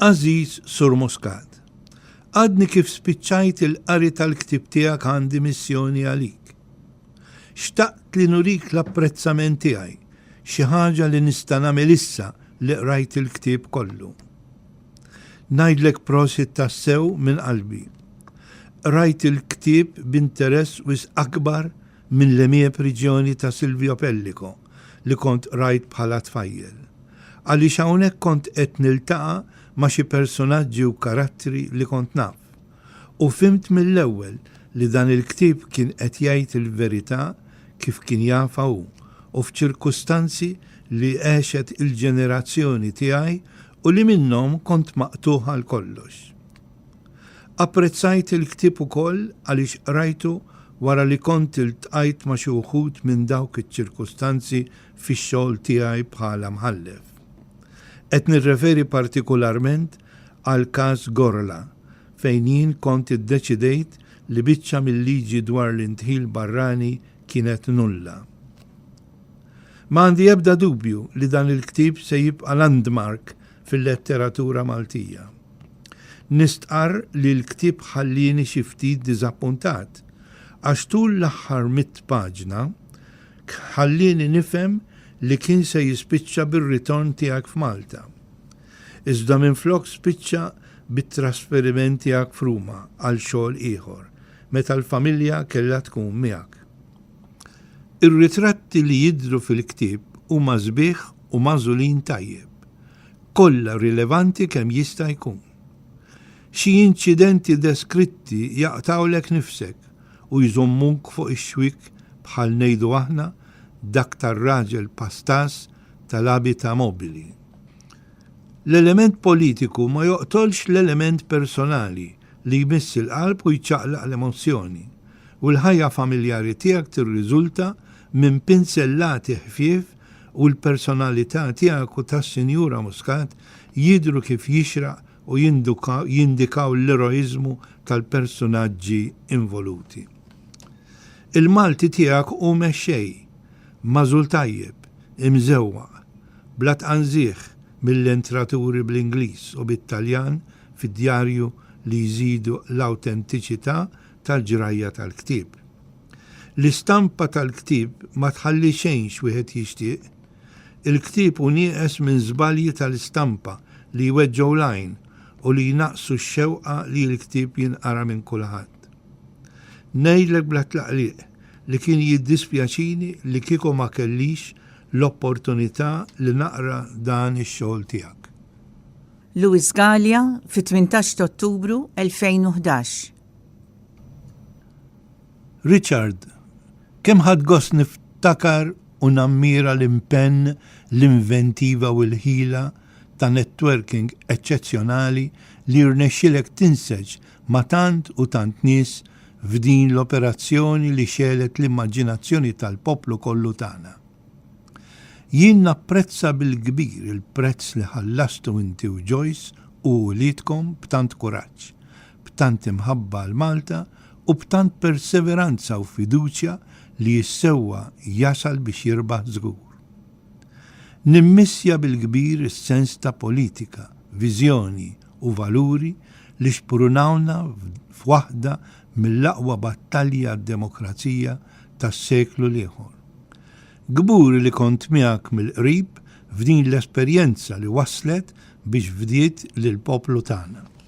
Għażiż Sur Muscat, Għadni kif spiċċajt il-qari tal-ktieb tiegħek għandi missjoni għalik. Xtaqt li nurik l-apprezzament tiegħi, xi ħaġa li nista' nagħmel issa li qrajt il-ktieb kollu. Ngħidlek prosit tassew minn qalbi. Qrajt il-ktieb b'interess wisq akbar minn l-emiep riġjoni ta' Silvio Pellico. li kont qrajt bħala tfajjel, għaliex hawnhekk kont qed niltaqa' ma' xi persunaġġi u karattri li kont naf. U fhimt mill-ewwel li dan il-ktieb kien qed jgħid il-verità kif kien jafha hu u f'ċirkustanzi li għexet il-ġenerazzjoni tiegħi u li minnhom kont maqtugħ għal kollox. Apprezzajt il-ktieb ukoll għaliex qrajtu wara li kont iltqajt ma' xi wħud minn dawk iċ-ċirkustanzi fix-xogħol tiegħi bħala mħallef. Qed nirreferi partikularment għall-każ Gorla, fejn jien kont iddeċidejt li biċċa mil-liġi dwar l-indħil barrani kienet nulla. Ma għandi ebda dubju li dan il-ktieb se jibqa' landmark fil-letteratura Maltija. Nistqarr li l-ktieb ħallieni xi ftit diżappuntat, għax tul l-aħħar mitt paġna ħallieni nifhem li kien se jispiċċa bir-ritorn tiegħek f'Malta. Iżda minflok spiċċa bit-trasferiment tiegħek f'Ruma għal xogħol ieħor, meta l-familja kellha tkun miegħek. Ir-ritratti li jidhru fil-ktieb huma sbieħ u magħżulin tajjeb. kollha rilevanti kemm jista' jkun. Xi inċidenti deskritti jaqtgħulek nifsek u jżommuk fuq ix-xwiek bħal ngħidu aħna dak tar-raġel pastas tal-abita mobili. L-element politiku ma joqtolx l-element personali li jmiss il-qalb u jċaqlaq l-emozzjoni, u l-ħajja familjari tiegħek tirriżulta minn pinsellati ħfief u l-personalità tiegħek u tas-Sinjura Muscat jidhru kif jixraq u jindikaw l-eroiżmu tal-persunaġġi involuti. Il-Malti tiegħek hu mexxej, magħżul tajjeb, imżewwaq, bla tqanżiegħ mill-entraturi bl-Ingliż u bit-Taljan fid-djarju li jżidu l-awtentiċità tal-ġrajja tal-ktieb. L-istampa tal-ktieb ma tħalli xejn x'wieħed jixtieq. Il-ktieb hu nieqes minn żbalji tal-istampa li jweġġgħu l-għajn u li jnaqqsu x-xewqa li l-ktieb jinqara minn kulħadd. Ngħidlek bla tlaqliq li kien jiddispjaċini li kieku ma kellix l-opportunità li naqra dan ix-xogħol tiegħek. Louis Galea, fit-tmintax t'Ottubru 2011, Richard, kemm ħadt gost niftakar u nammira l-impenn, l-inventiva u l-ħila ta' networking eċċezzjonali li rnexxielek tinseġ ma' tant u tant nies f'din l-operazzjoni li xegħlet l-immaġinazzjoni tal-poplu kollu tagħna. Jien napprezza bil-kbir il-prezz li ħallastu inti u Joyce u uliedkom b'tant kuraġġ, b'tant imħabba għal Malta u b'tant perseveranza u fiduċja li s-sewwa jasal biex jirbaħ żgur. Nimmissja bil-kbir is-sens ta' politika, viżjoni u valuri li xprunawna f'waħda mill-aqwa battalji għad-demokrazija tas-seklu l-ieħor. Kburi li kont miegħek mill-qrib f'din l-esperjenza li wasslet biex fdiet lill-poplu tagħna.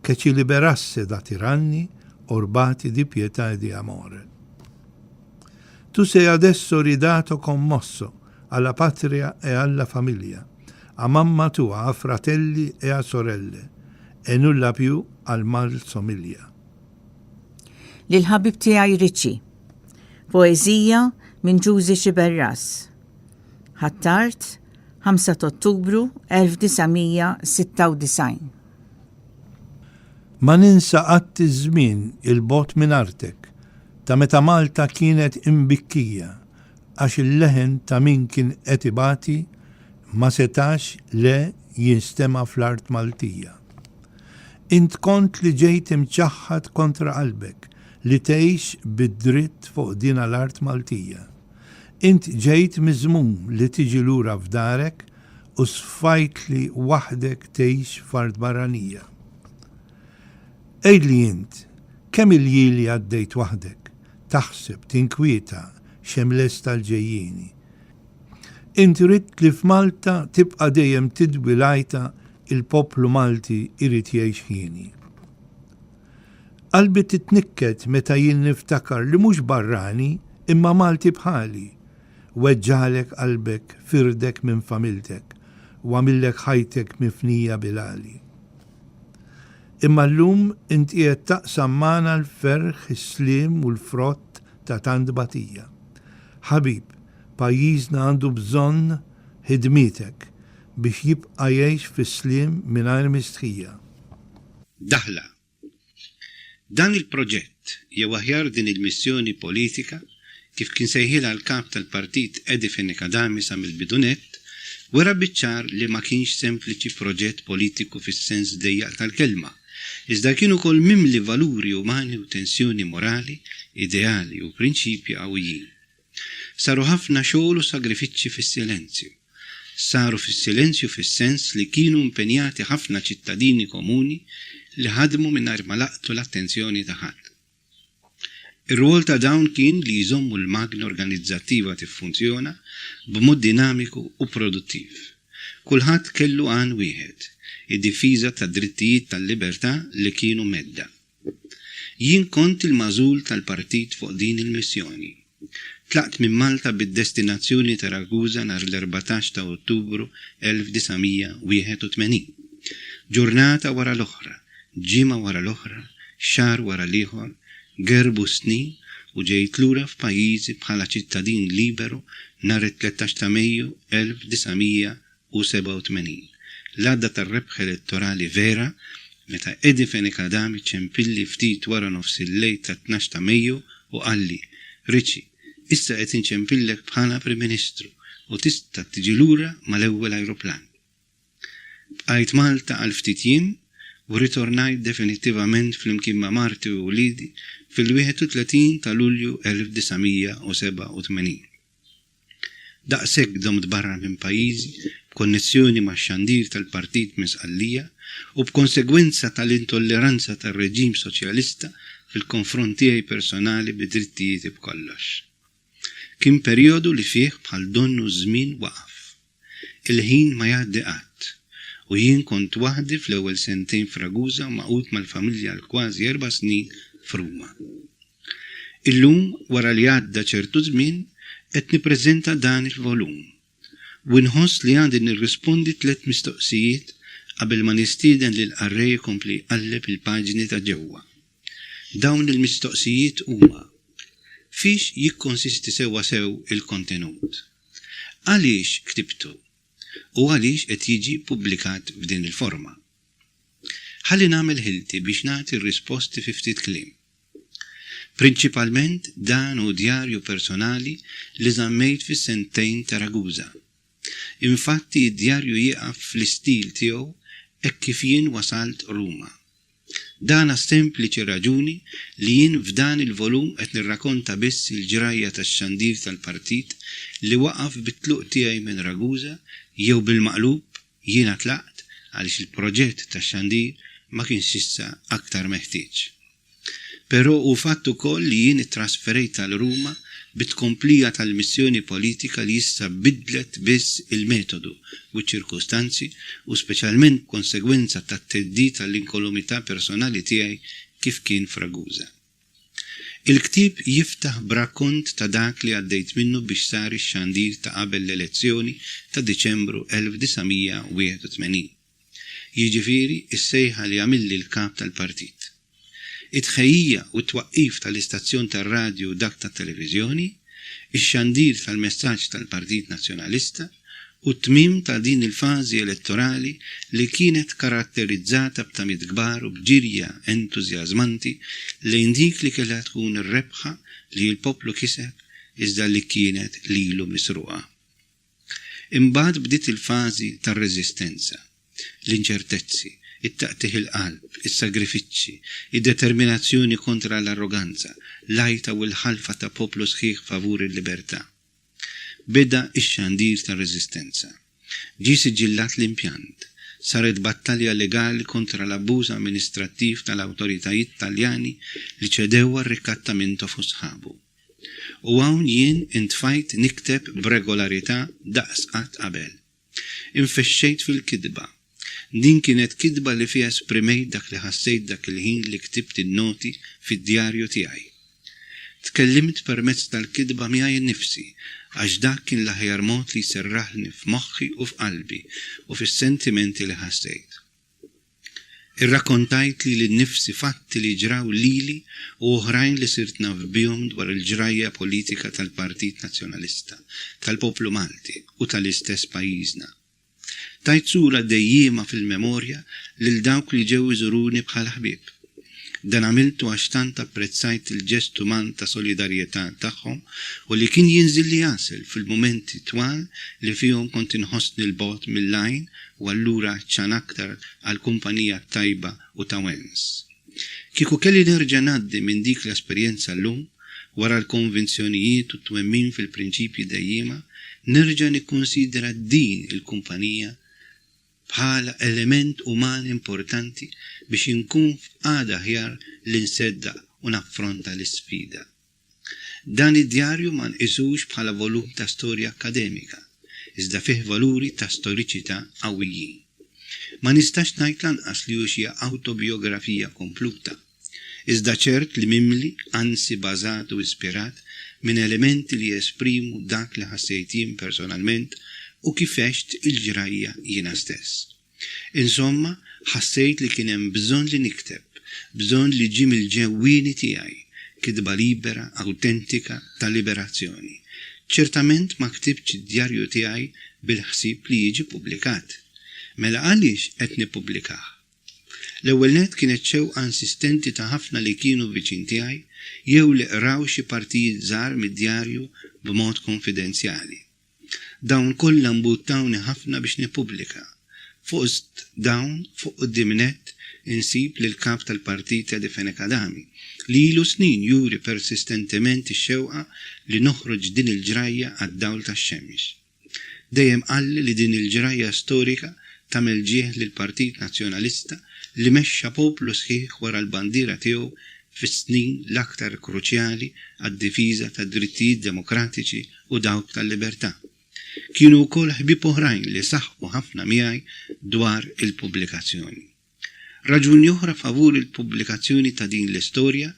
che ci liberasse da tiranni orbati di pietà e di amore. Tu sei adesso ridato commosso a la patria e a la famiglia, a mamma tua, a fratelli e a sorelle, e nulla più al mal somiglia. Lill-ħabib tiegħi Richie. Poeżija minn Ġużi Sciberras. Ħattart, 5 t'Ottubru 1996. Ma ninsa qatt iż-żmien 'il bogħod minn artek ta' meta Malta kienet imbikkija għax il-leħen ta' min kien qed ibati ma setax le jinstema' fl-art Maltija. Int kont li ġejt imċaħħad kontra qalbek li tgħix bid-dritt fuq dina l-art Maltija. Int ġejt miżmum li tiġi lura f'darek U sfajt li waħdek tgħix f'art barranija. Għidli int, kemm il-jieli għaddejt waħdek, taħseb, tinkwieta x'hemm lest għall-ġejjieni? Int ridt li f'Malta tibqa' dejjem tidwi l-għajta il-poplu Malti jrid jgħix hieni. Qalbi titnikket meta jien niftakar li mhux barrani imma Malti bħali, weġġagħlek qalbek, firdek minn familtek, u għamillek ħajtek mifnija bil-għali. Imma llum int qiegħed taqsam magħna l-ferħ, is-sliem u l-frott ta' tant tbatija. Ħabib, pajjiżna għandu bżonn ħidmietek biex jibqa' jgħix fis-sliem mingħajr mistħija. Daħla, Dan il-proġett, jew aħjar din il-missjoni politika, kif kien sejħilha l-Kap tal-Partit Edi Fenech-Adami sa mill-bidunett, wera biċ-ċar li ma kienx sempliċi proġett politiku fis-sens dejjaq tal-kelma, iżda kien ukoll mimli valuri umani u tensjoni morali, ideali u prinċipji qawwijin. Saru ħafna xogħol u sagrifiċċji fis-silenzju. Saru fis-silenzju fis-sens li kienu impenjati ħafna ċittadini komuni li ħadmu mingħajr ma laqtu l-attenzjoni ta' ħadd. Ir-rwol ta' dawn kien li jżommu l-magna organizzattiva tiffunzjona b'mod dinamiku u produttiv. Kulħadd kellu għan wieħed, id-difiża tad-drittijiet tal-libertà li kienu mhedda. Jien kont il-magħżul tal-partit fuq din il-missjoni. Tlaqt minn Malta bid-destinazzjoni ta' Ragusa nhar l-erbatax ta' Ottubru 1981. Ġurnata wara l-oħra, ġimgħa wara l-oħra, xahar wara l-ieħor, gerbu s-snin u ġejt lura f'pajjiżi bħala ċittadin liberu nhar it-tlettax ta' Mejju 1984. u 87. L-għadda tar-rebħ elettorali vera meta Eddie Fenicadami ċempilli ftit wara nofs il-lejl tat-tnax ta' Mejju u qalli, Richie, issa qed inċempillek bħala Prim Ministru u tista' tiġi lura mal-ewwel ajruplan. Bqajt Malta għal ftit jiem u rritornajt definittivament flimkien ma' marti u wliedi fil-31 ta' Lulju 1987. Daqshekk domt barra minn pajjiżi b'konnezzjoni max-xandir tal-Partit minn Sqallija u b'konsegwenza tal-intolleranza tar-reġim Soċjalista fil-konfront tiegħi personali bi drittijieti b'kollox. Kien perjodu li fih bħal donnu ż-żmien waqaf. Il-ħin ma jgħaddi qatt, u jien kont waħdi fl-ewwel sentejn f'Ragusa magħqud mal-familja għal kważi erba' snin f'Ruma. Illum, wara li għadda ċertu żmien, qed nippreżenta dan il-volum, u inħoss li għandi nirrispondi tliet mistoqsijiet qabel ma nistieden lill-qarrej ikompli jqalleb il-paġni ta' ġewwa. Dawn il-mistoqsijiet huma, Fiex jikkonsisti sewwasew il-kontenut? Għaliex ktibtu? U għaliex qed jiġi ppubblikat f'din il-forma? Ħalli nagħmel ħilti biex nagħti r-risposti fi ftit kliem. Prinċipalment dan hu djarju personali li żammejt fis-sentejn ta' Ragusa. Infatti d-djarju jieqaf fl-istil tiegħu hekk kif jien wasalt Ruma. Dan għas-sempliċi raġuni li jien f'dan il-volum qed nirrakonta biss il-ġrajja tax-xandir tal-partit li waqaf bit-tluq tiegħi minn Ragusa jew bil-maqlub jiena tlaqt għaliex il-proġett tax-xandir ma kienx issa aktar meħtieġ. Però hu fatt ukoll li jien ittrasferejt għal Ruma bi tkomplija tal-missjoni politika li issa biddlet biss il-metodu u ċ-ċirkustanzi u speċjalment b'konsegwenza tat-theddid għall-inkolumità personali tiegħi kif kien f'Ragusa. Il-ktieb jiftaħ b'rakkont ta' dak li għaddejt minnu biex sar ix-xandir ta' qabel l-elezzjoni ta' Diċembru 1981. jiġifieri s-sejħa li għamilli l-Kap tal-Partit. It-tħejjija u t-twaqqif tal-istazzjon tar-radju u dak tat-televiżjoni, ix-xandir tal-messaġġ tal-Partit Nazzjonalista u t-tmiem ta' din il-fażi elettorali li kienet karatterizzata b'tamiet kbar u b'ġirja entużjażmanti lejn dik li kellha tkun ir-rebħa li l-poplu kiseb iżda li kienet lilu misruqa. Imbagħad bdiet il-fażi tar-reżistenza. L-inċertezzi, it-taqtigħ il-qalb, is-sagrifiċċji, id-determinazzjoni kontra l-arroganza, l-għajta u l-ħalfa ta' poplu sħiħ favur il-libertà. Beda x-xandir tar-reżistenza. Ġie siġillat l-impjant. Saret battalja legali kontra l-abbuż amministrattiv tal-awtoritajiet Taljani li ċedew għar-Rikattamento fu sħabu. U hawn jien intfajt nikteb b'regolarità daqs qatt qabel. Infexxejt fil-kitba. Din kienet kitba li fiha esprimejt dak li ħassejt dak il-ħin li ktibt in-noti fid-djarju tiegħi. Tkellimt permezz tal-kitba miegħi nnifsi, għax dak kien l-aħjar mod li jserraħlni f'moħħi u f'qalbi u fis-sentimenti li ħassejt. Irrakkontajt lili nnifsi fatti li ġraw lili u oħrajn li sirt naf bihom dwar il-ġrajja politika tal-Partit Nazzjonalista tal-Poplu Malti u tal-istess pajjiżna. Tajt sura dejjiema fil-memorja lil dawk li ġew iżuruni bħala ħbieb. Dan għamiltu għax tant apprezzajt il-ġest uman ta' solidarjetà tagħhom u li kien jinżilli għasel fil-mumenti twal li fihom kont inħossni 'l bogħod mill-għajn u allura għatxan aktar għall-kumpanija t-tajba u ta' Wens. Kieku kelli nerġa' ngħaddi minn dik l-esperjenza llum, wara l-konvinzjonijiet u t-twemmin fil-prinċipji dejjiema, nerġa' nikkunsidra din il-kumpanija bħala element uman importanti biex inkun f'qagħda aħjar li nseddaq u naffronta l-isfida. Dan id-djarju ma nqisux bħala volum ta' storja akkademika, iżda fih valuri ta' storiċità qawwijin. Ma nistax ngħid lanqas li hu xi awtobijografija kompluta. iżda ċert li mimli, anzi bażat u ispirat minn elementi li jesprimu dak li ħassejt jien personalment u kif għext il-ġrajja jiena stess. Insomma, ħassejt li kien hemm bżonn li nikteb, bżonn li ġie mill-ġewwieni tiegħi, kitba libera, awtentika, ta' liberazzjoni. Ċertament ma ktibtx id-djarju tiegħi bil-ħsieb li jiġi ppubblikat. Mela għaliex qed nippubblikah? L-ewwel nett kienet xewqa insistenti ta' ħafna li kienu viċin tiegħi jew li qraw xi partijiet żgħar mid-djarju b'mod kunfidenzjali. Dawn kollha mbuttawni ħafna biex nippubblika. Fost dawn, fuq quddiem nett, insib lill-Kap tal-Partit Edifene Kadami, li ilu snin juri persistentement ix-xewqa li noħroġ din il-ġrajja għad-dawl tax-xemx. Dejjem qalli li din il-ġrajja storika tagħmel ġieħ lill-Partit Nazzjonalista li mexxa poplu sħiħ wara l-bandiera tiegħu fis-snin l-aktar kruċjali għad-difiża tad-drittijiet demokratiċi u dawk tal-libertà. Kienu wkoll ħbieb oħrajn li saħqu ħafna miegħi dwar il-pubblikazzjoni. Raġuni oħra favur il-pubblikazzjoni ta' din l-istorja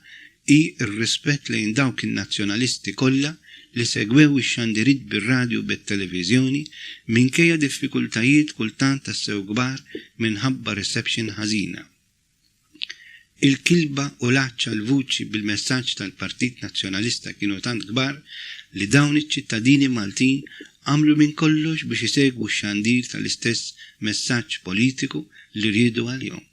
hi r-rispett lejn dawk in-Nazzjonalisti kollha li segwew ix-xandiriet bir-radju u bit-televiżjoni minkejja diffikultajiet kultant tassew kbar minħabba reception ħażina, il-kilba u l-għatx għall-vuċi bil-messaġġ tal-Partit Nazzjonalista kienu tant kbar li dawn iċ-ċittadini Maltin għamlu minn kollox biex isegwu x-xandir tal-istess messaġġ politiku li riedu għalihom,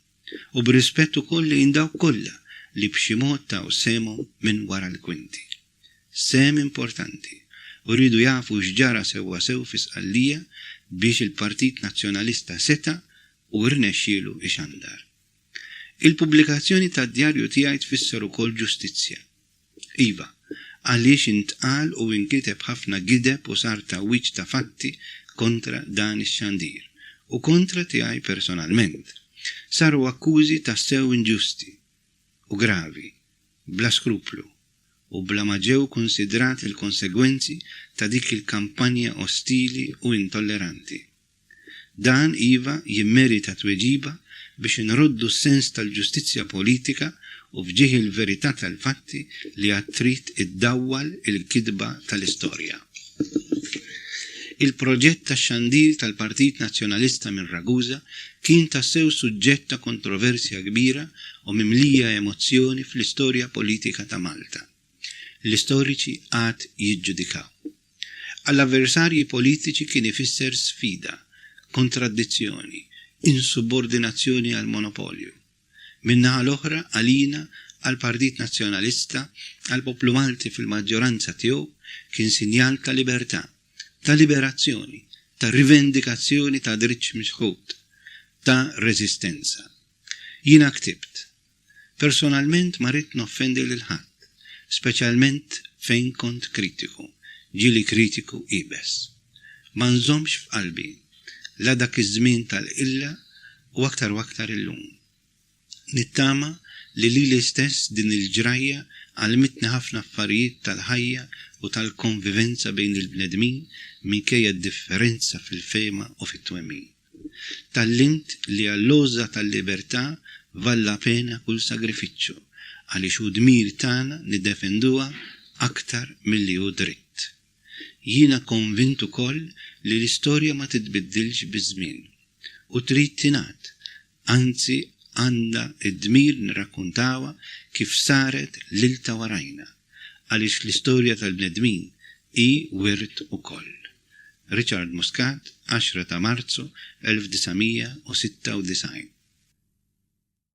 u b'rispett ukoll lejn dawk kollha li b'xi mod taw sehemhom minn wara l-kwinti. Sehem importanti u riedu jafu x'ġara sewwasew fi Sqallija biex il-Partit Nazzjonalista seta' u rnexxielu ixandar. Il-pubblikazzjoni tad-djarju tiegħi tfisser ukoll ġustizzja. Iva, għaliex intqal u inkiteb ħafna gideb u sar tgħawwiġ ta' fatti kontra dan ix-xandir u kontra tiegħi personalment. Saru akkużi tassew inġusti u gravi, bla skruplu u bla ma ġew kunsidrati l-konsegwenzi ta' dik il-kampanja ostili u intolleranti. Dan iva jimmerita tweġiba biex inroddu s-sens tal-ġustizzja politika u f'ġieħ il-verità tal-fatti li għad trid iddawwal il-kitba tal-istorja. Il-proġett tax-xandir tal-Partit Nazzjonalista minn Ragusa kien tassew suġġett ta' kontroversja kbira u mimlija emozzjoni fl-istorja politika ta' Malta. l-istoriċi għad jiġġudikaw. Għall-avversarji politiċi kien ifisser sfida, kontradizzjoni, insubordinazzjoni għal monopolju. Min-naħa l-oħra, għalina, għall-Partit Nazzjonalista, għall-poplu Malti fil-maġġoranza tiegħu, kien sinjal ta' libertà, ta' liberazzjoni, ta' rivendikazzjoni ta' dritt mixħut, ta' reżistenza. Jiena ktibt. Personalment ma ridt noffendi lil ħadd, speċjalment fejn kont kritiku, ġieli kritiku iebes. Ma nżommx f'qalbi, la dak iż-żmien tal-qilla u aktar u aktar illum. Nittama li lili stess din il-ġrajja għallmitni ħafna affarijiet tal-ħajja u tal-konvivenza bejn il-bnedmin minkejja d-differenza fil-fehma u fit-twemmin. Tgħallimt li għall-għożża tal-libertà valla pena kull sagrifiċċju, għaliex hu dmir tagħna niddefenduha aktar milli hu dritt. Jiena konvint ukoll li l-istorja ma titbiddilx biż-żmien u trid tingħad anzi għandna d-dmir nirrakkuntawha kif saret lil ta' warajna, għaliex l-istorja tal-bnedmin hi wirt ukoll. Richard Muscat, 10 ta' Marzu 1996.